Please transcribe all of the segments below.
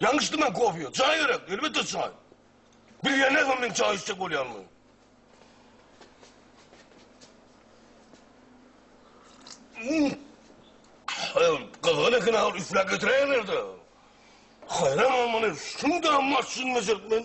Ýalňyş içdim men kofeýi. Çaý gerek, elbetde çaý. Bilýän näme men çaý içjek bolýanymy. Hmm. Gyzgyn eken agyr üfläp getiräýenler-de. Haýran bolmaly, şunda maşyn meselip men.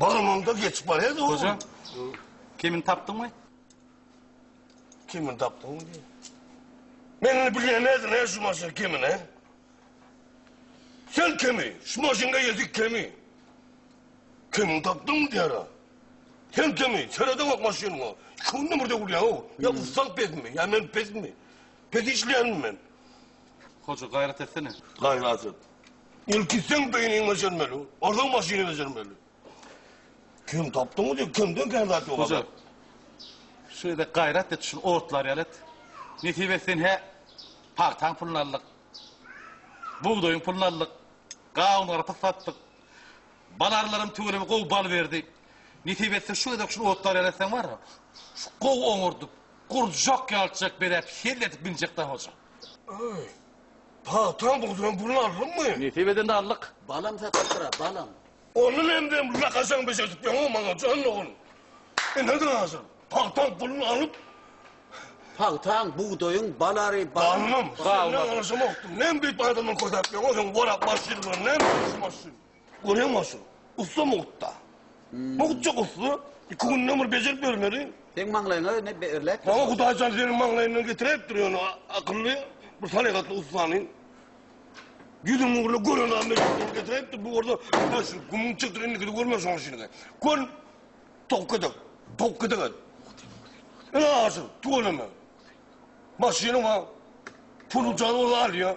Barmamda geçip barýar da Hoja, bu kimini tapdyňmy? Kimini tapdyňmy diýýär. Men indi bilýän nädip ne şu maşyn kimin he? Sen kimi? Şu maşynga ýetik kimi? Kimini tapdyňmy diýýär. ha. Sen kimi? Seredem ok maşynyňa. Iki günde bir döwülýär o. Ya ustal pesmi? Ya men pesmi? Pes işleýänmi men? Hoja gaýrat etsene. Gaýrat et. Ilki seň beýniňi bejermeli. Onsoň maşyny bejermeli. Kim tapdyňmy diýip kimden kän zat ýok. Hoja. Şeýle gaýrat et şul otlary ýaly et. Nesip etsin hä pagtaň puluny aldyk. Bugdaýyň puluny aldyk. Gawun garpyz satdyk. Bal arlaram tüweleme gowy bal berdi. Nesip etse şu gezek şul otlary ýaly etseň bar. Şu gowy oňardyp, gurjak ýalçjak beläp, hell edip binjek da hoja. Ay, pagtaň bugdyran pulunu aldyňmy? Nesip edende aldyk. Balam satypdyr-a, balam. Ony men bilen bir lakajaň bejertip ýöňňä maňa, jan ogul. Ine-de hazir, pagtaň pulunu alyp. Pagtaň, bugdaýyň, balary, balam. Balam, senden alyjymokdy. Näme beýdip adamdan kösäp ýöňňä, sen orak başçydygyňdan näme alyjymokdy? Görýäňmi Aşyr, ussa mugtda. Mugtjyk ussa, iki günden bir bejerip bermeli. Seň maňlaýyňa indi berläýipdir. Maňa Hudaý jan seniň maňlaýyňdan getiräýipdir ýöne akylly, bir salyhatly ussany. Ýüzüň ugruna gören adam mejlisine getiräýipdir. Bu bolsa Hudaý şuny gumuň çekdir, indikini görme şoň işini. Kör towuk gedek, towuk gedek et. Ine Aşyr, tüweleme. Maşynyň bar, puly jan ol alýa.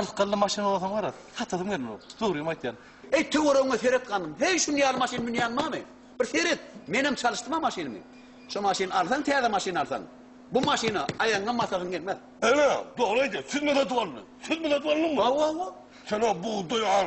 Ylkylly maşyn bolsaň wara satasym gelmok dogrymy aýtýan. Eý töweregiňe seret ganym heý şuny ýaly maşyn münýän bamy bir seret menem çalyşdym a maşynymy şu maşyn alsaň täze maşyn alsaň bu maşyna aýagyňam basasyň gelmez. Ene dogry aýdýar süzme satyp aldy süzme satyp aldyňmy. Hawa hawa. Sen o bugdaý al.